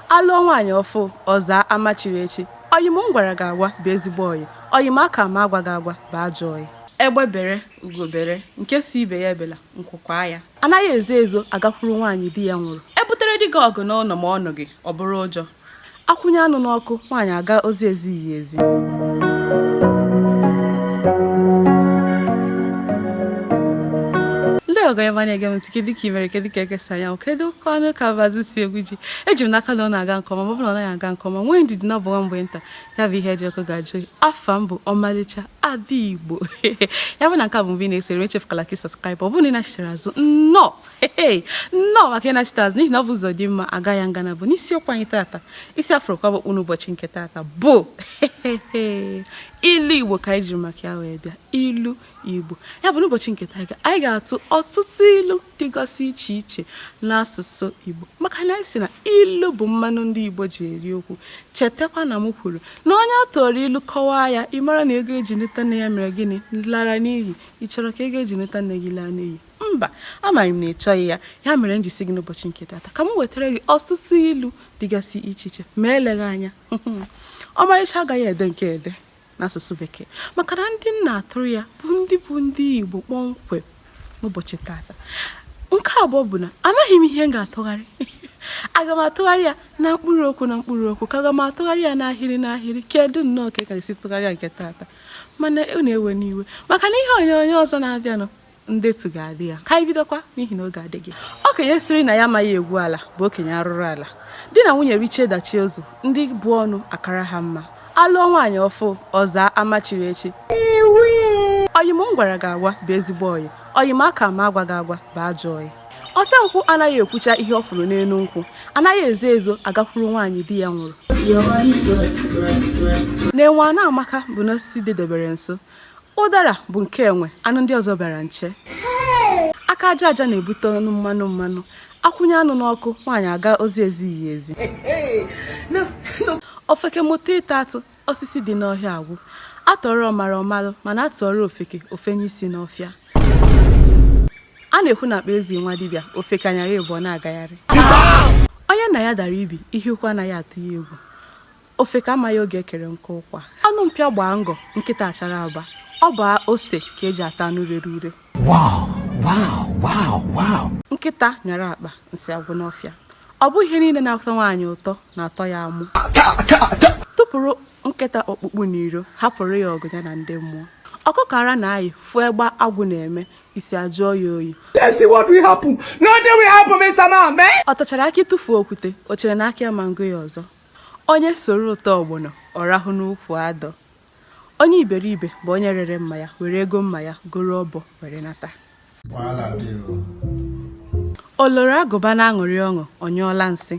A lụọ nwaanyị ọfụụ ọ zaa ama chiri echi. Ọyị m m gwara gị agwa bụ ezigbo ọyị. Ọyị m aka m agwa gị agwa bụ ajọ ọyị. Egbe bere, ugo bere, nke sị ibe ya ebela, nku kwaa ya. Anaghị ezo ezo agakwuru nwaanyị di ya nwụrụ. E butere dike ọgụ n'ụlọ ma ọ nụghị, ọ bụrụ ụjọ. A kwụnye anụ n'ọkụ, nwaanyị agaa ozi ezighị ya ezi. Ndị ọgọ ọma na-ege m ntị, kedu ka i mere, kedu ka eke si anya, kedu kwanụ ka mbazụ si egwu ji? eji m n'aka na ọ na-aga nke ọma ma ọ bụ na ọ naghị aga nke ọma nwee ndidi na ọ bụ nwa mgbe nta ya bụ ihe dị ọkụ ga-ajụ oyi afa m bụ ọmalịcha ada igbo ya bụ na nke a bụ mgbe ị na-esere echefukwala ka ị subscribe ọ bụrụ na ị nachitere azụ nnọọ nnọọ maka ịnachitere azụ n'ihi na ọ bụ ụzọ dị mma a gaa ya nga naabọ isiokwu anyị tata isi a fụrụ kwaba okpu n'ụbọchị nke tata bụ ilu igbo ka anyị jiri maka ya wee bịa ilu Igbo ya bụ n'ụbọchị nke taa anyị ga-atụ ọtụtụ ilu dịgasị iche iche n'asụsụ Igbo maka na anyị sị na ilu bụ mmanụ ndị Igbo ji eri okwu chetakwa na m kwuru na onye a tụọrọ ilu kọwaa ya ị mara na ego e ji nụta nne ya mere gịnị lara n'iyi ị chọrọ ka ego e ji nụta nne gị laa n'iyi mba amago m na ị chọghị ya ya mere m ji sị gị n'ụbọchị nke tata ka m wetara gị ọtụtụ ilu dịgasị iche iche ma eleghị anya ọmalịcha agaghị ede nke a ede n'asụsụ bekee maka na ndị m na-atụrụ ya bụ ndị bụ ndị igbo kpọmkwem n'ụbọchị tata nke abụọ bụ na amaghị m ihe m ga-atụgharị aga m atụgharị ya na mkpụrụ okwu na mkpụrụ okwu ka aga m atụgharị ya n'ahịrị n'ahịrị kedu nnọọ ka ị ga-esi tụgharịa nke tata mana ewena iwe maka na ihe onyonyo ọzọ na-abịanụ ndetu ga-adị ya ka anyị bidokwa n'ihi na oge adịghị okenye sịrị na ya amaghị egwu ala bụ okenye arụrụ ala di na nwunye richie dachie ụzọ ndị bu ọnụ akara ha mma a lụọ nwaanyị ọfụụ ọ zaa ama chiri echi ọyị m m gwara gị agwa bụ ezigbo ọyị ọyị m aka m agwa gị agwa bụ ajọ ọyị ote nkwụ anaghị ekwucha ihe ọ fụrụ n'elu nkwụ anaghị ezo ezo agakwuru nwaanyị di ya nwụrụ na enwe a na-ama aka bụ na osisi dịbere nso ụdara bụ nke enwe anụ ndị ọzọ bịara nche aka aja aja na-ebute ọnụ mmanụ mmanụ a kwụnye anụ n'ọkụ nwaanyị agaa ozi ezighị ya ezi ofeke mụta ịta atụ osisi dị n'ọhịa agwụ a tụọrọ ọmara ọ malụ mana a tụọrọ ofeke o fenye isi n'ọfịa a na-ekwu na akpa ezi nwa dibịa ofeke anyara ịbụọ na-agagharị onye nna ya dara ibi ihe ukwu anaghị atụ ya egwu Ofeke amaghị oge ekere nkụ ụkwa. Ọnụ mpịa gbaa ngọ, nkịta achara aba. Ọ bụ ose ka eji ata anụ rere ure. Wow, wow, wow, wow. Nkịta nyara akpa, nsị agwụ n'ọfịa. Ọ bụghị ihe niile na-atọ nwaanyị ụtọ na-atọ ya amụ. Tụpụrụ nkịta ọkpụkpụ n'iro, hapụrụ ya ọgụ ya na ndị mmụọ. Ọkụkọ ara na-ayị fụ egbe agwụ na-eme, isi ajụọ ya oyi. Let's see what will happen. Nothing will happen, Mr. Man. Ọ tachara akị tụfuo okwute, o chere na akị ama ngụ ya ọzọ. Onye soro ụtọ ọgbọnọ, ọ rahụ n'ukwu adọ. Onye iberibe bụ onye rere mma ya, were ego mma ya goro ọbọ were nata. O loro agụba na-aṅụrị ọṅụ, ọ nyụọla nsị.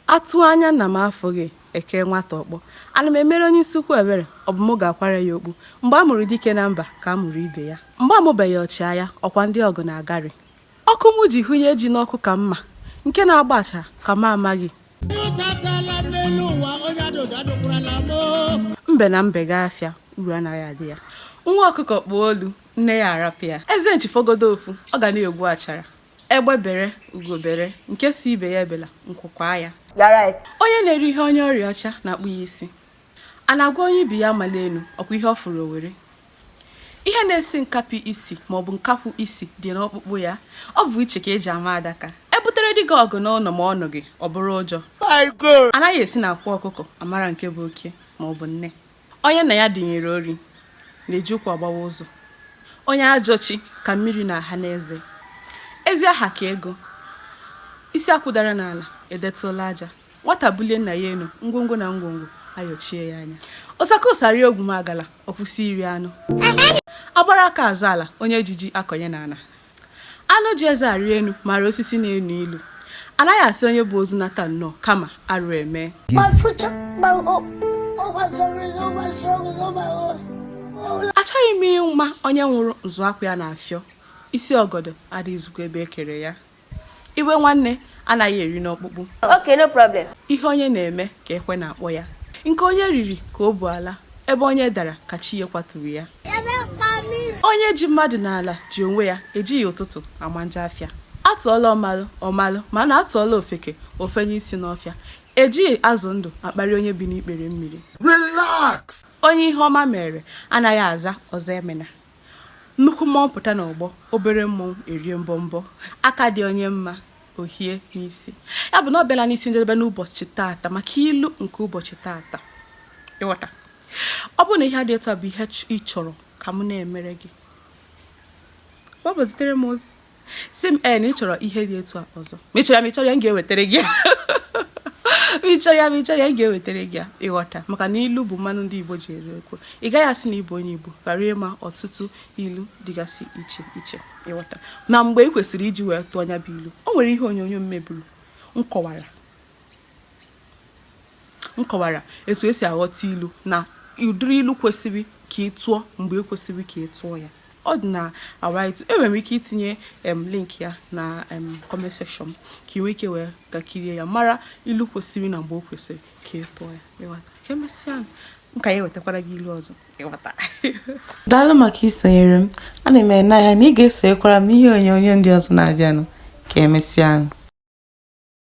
A tụọ anya nna m afụghị, e kee nwata ọkpọ. Ana m emere onye isi ukwu ebere, ọ bụ mụ ga-akwara ya okpu. Mgbe a mụrụ dike na mba ka a mụrụ ibe ya. Mgbe a mụbeghị ọchịagha, ọ kwa ndị ọgụ na-agari. Ọkụ mụ ji hụnye ji n'ọkụ ka mma, nke na-agba achara ka mụ amaghị. mbe na mbe gaa afịa uru anaghị adị ya nwa ọkụkọ kpụọ olu nne ya arapụ ya eze nchi fọgodo ofu ọ ga na-egbu achara egbe bere ugo bere nke sị ibe ya ebela nku kwaa ya onye na-eri ihe onye ọrịa ọcha na-akpụ ya isi a na-agwa onye ibi ya amala elu ọkwa ihe ọ fụrụ o were Ihe na-esi nkapi isi maọbụ nkakwu isi dị n'ọkpụkpụ ya. Ọ bụ iche ka e ji ama adaka. E butere dike ọgụ n'ụnọ ma ọ nụghị, ọ bụrụ ụjọ. A naghị esi n'akwa ọkụkọ amara nke bụ oke maọbụ nne. Onye nna ya dunyere ori na-eji ụkwụ agbawa ụzọ. Onye ajọ chi ka mmiri na-aha n'eze. Ezi aha ka ego. Isi akwụ dara n'ala, edetụla aja. Nwata bulie nna ya enu, ngwongwo na ngwongwo ayọchie ya anya. Ọ saka ụsa rie ogwumagala, ọ kwụsị iri anụ. Agbara aka azọ ala, onye ji ji akọnye n'ana. Anụ ji eze arị enu maara osisi na-enu ilu. A naghị asị onye bu ozu nata nnọọ kama arụ emee. My future, my hope, all my stories, all my struggles, all my hopes. All Achọghị m ịma onye nwụrụ m zụọ akwa ya n'afịa, isi ọgọdọ adịghịzikwa ebe e kere ya. Iwe nwanne anaghị eru n'ọkpụkpụ. Okay, no problem. Ihe onye na-eme ka ekwe na-akpọ ya. Nke onye riri ka o bu ala, ebe onye dara ka chi ya kwaturu ya. Onye ji mmadụ n'ala ji onwe ya ejighị ụtụtụ ama njọ afịa. Atụọla ọmalụ ọ malụ mana atụọla ofeke o fenye isi n'ọfịa. Ejighị azụ ndụ akparị onye bi n'ikpere mmiri. Relax! Onye ihe ọma mere anaghị aza Ọzọemena. Nnukwu mmọnwụ pụta n'ọgbọ, obere mmọnwụ erie mbọmbọ. Aka dị onye mma, o hie n'isi. Ya bụ na ọ bịala n'isi njedebe n'ụbọchị taata maka ilu nke ụbọchị taata. Ị ghọta? Ọ bụrụ na ihe dị etu a bụ ihe ị chọrọ ka m na-emere gị, ọ bụ zitere m ozi. sị m ee na ị chọrọ ihe dị etu a ọzọ ma ị chọrọ ya ma ị chọrọ ya m ga-ewetara gị ya ma ị chọrọ ya ma ị chọrọ ya m ga-ewetara gị ya ịghọta maka na ilu bụ mmanụ ndị igbo ji eri okwu ị gaghị asị na ị bụ onye igbo ghara ịma ọtụtụ ilu dịgasị iche iche ịghọta na mgbe ị kwesịrị iji wee tụọ nya bụ ilu o nwere ihe onyonyo m meburu m kọwara M kọwara etu e si aghọta ilu na ụdịrị ilu kwesịrị ka ị tụọ mgbe e kwesịrị ka ị tụọ ya. Ọ dị na YouTube. Enwere m ike itinye em link ya na em comment section ka ị nwee ike wee ga kirie ya mara ilu kwesịrị na mgbe o kwesịrị ka ị tụọ ya. Ịghọta? Ka emesịa nụ. M ka ya-ewetakwara gị ilu ọzọ. Ịghọta? Daalụ maka isonyere m. Ana m ene anya na ị ga-esonyekwara m n'ihe onyonyo ndị ọzọ na-abịanụ. Ka emesịa nụ.